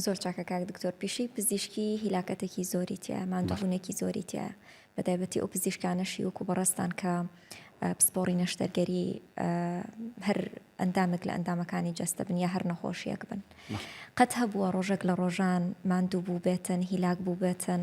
زۆر چاکە کاک دکتۆر پیشەی پزیشکی هیلاکەتێکی زۆری تیایە ماندووبوونێکی زۆری تیایە بەتایبەتی ئەو پزیشکانەشی وەکو بەڕێزتان کە پسپۆڕی نەشتەرگەری هەر ئەندامێک لە ئەندامەکانی جەستە بن یا هەر نەخۆشیەک بن قەت هەبووە ڕۆژێک لە ڕۆژان ماندوو بوو بێتن هیلاک بوو بێتن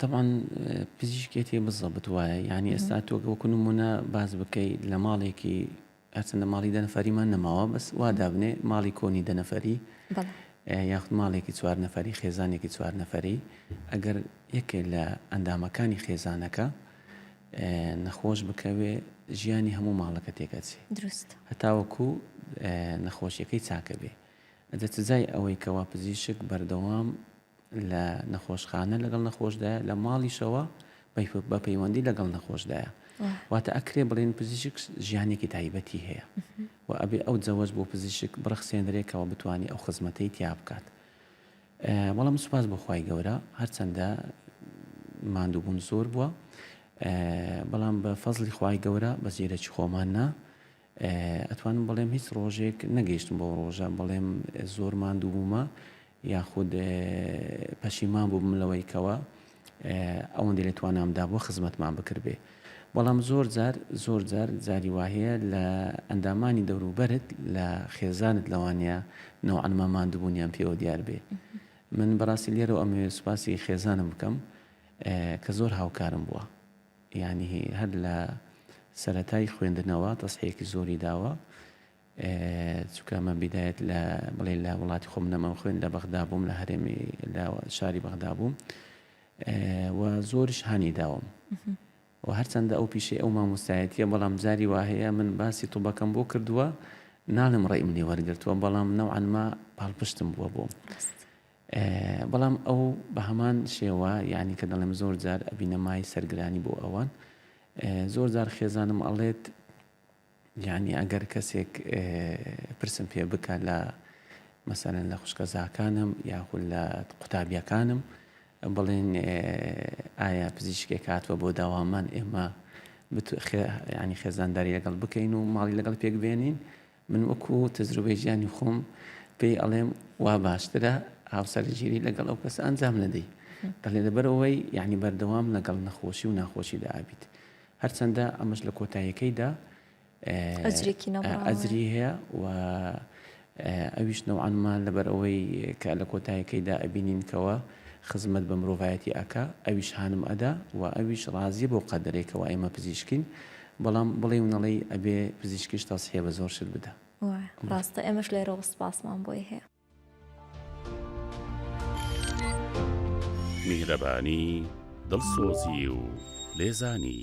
تەبعەن پزیشکێتی بزەبت وایە یانی ئێستا تۆ وەکو نمونە باس بکەی لە ماڵێکی هەرچەندە ماڵی دە نەفەریمان نەماوە بەس وا دابنێ ماڵی کۆنی دە نەفەری یاخود ماڵێکی چوار نەفەری خێزانێکی چوار نەفەری ئەگەر یەکێ لە ئەندامەکانی خێزانەکە نەخۆش بکەوێ ژیانی هەموو ماڵەکە تێکەچێ دروست هەتاوەکو نەخۆشیەکەی چاکە بێ ئەجە سزای ئەوەی کەوا پزیشک بەردەوام لە نەخۆشخانە لەگەڵ نەخۆشدایە، لە ماڵیشەوە بە پەیوەندی لەگەڵ نەخۆشدایە. واتە ئەکرێ بڵێن پزیشک ژیانێکی تایبەتی هەیە و ئەبێ ئەو جەوەش بۆ پزیشک بڕەخسێنرێکەوە بتوانانی ئەو خزمەتەی تیا بکات. بەڵام سوپاس بۆخوای گەورە هەرچەندە ماندووبوون زۆر بووە بەڵام بە فەزلی خوای گەورە بە زیرەکی خۆمان نا ئەتوانم بڵێم هیچ ڕۆژێک نەگەیشتم بەو ڕۆژە بڵێم زۆر ماندوو بوومە یاخود پەشیمان بووم لەوەی کەوە ئەوەندە لە توانامدا بۆ خزمەتمان بکردێ بەڵام زۆر جار زۆر جار جاری واهەیە لە ئەندامانی دەوروبەرت لە خێزانت لەوانەیە نەوەنما ماندووبوونیان پێوە دیار بێ من بەڕاستی لێرەوە ئەمەوێت سوپاسی خێزانم بکەم کە زۆر هاوکارم بووە یانی هەر لە سەرەتای خوێندنەوە تەسحیەکی زۆری داوە چونکە من بیدایەت لە بڵێ لە وڵاتی خۆم نەمەم خوێن لە بەغدا بووم لە هەرێمی لە شاری بەغدا بووم و زۆرش هانی داوم و هەرچەندە ئەو پیشەی ئەو مامۆستایەتە بەڵام جاری واهەیە من باسی توبەکەم بۆ کردووە ناڵم ڕێ منی وەرگرتووە بەڵام نەوانما پاڵپشتم بووە بۆم بەڵام ئەو بە هەمان شێوە یانی کە دەڵێم زۆر جار ئەبینە مای سەرگرانی بۆ ئەوان زۆر جار خێزانم ئەڵێت یعنی ئەگەر کەسێک پرسم پێ بکە لە مەسەرەن لە خوشکە زاکانم یاخود لە قوتابیەکانم بڵێن ئایا پزیشکێک هاتووە بۆ داوامان ئێمە ینی خێزانداری لەگەڵ بکەین و ماڵی لەگەڵ پێک بێنین من وەکو تەجروبەی ژیانی خۆم پێی ئەڵێم وا باشترە هاوسەرگیری لەگەڵ ئەو کەسە ئەنجام نەدەی بەڵێ لەبەرەوەی یعنی بەردەوام لەگەڵ نەخۆشی و ناخۆشی دابیت هەرچەندە ئەمەش لە کۆتایەکەیدا ئەزری هەیە و ئەویش نەوانمان لەبەر ئەوەی کە لە کۆتایەکەیدا ئەبینینکەوە خزمەت بە مرۆڤایەتی ئەکا ئەویش هانم ئەدا و ئەویش ڕازیە بۆ قەدرێکەوە ئێمە پزیشکین بەڵام بڵێی و نەڵێی ئەبێ پزیشکیش تەسحیە بە زۆر شت بدا. وایە ڕاستە ئێمەش لێرەوە سوپاسمان بۆی هەیە. میهرەبانی، دڵسۆزی و لێزانی.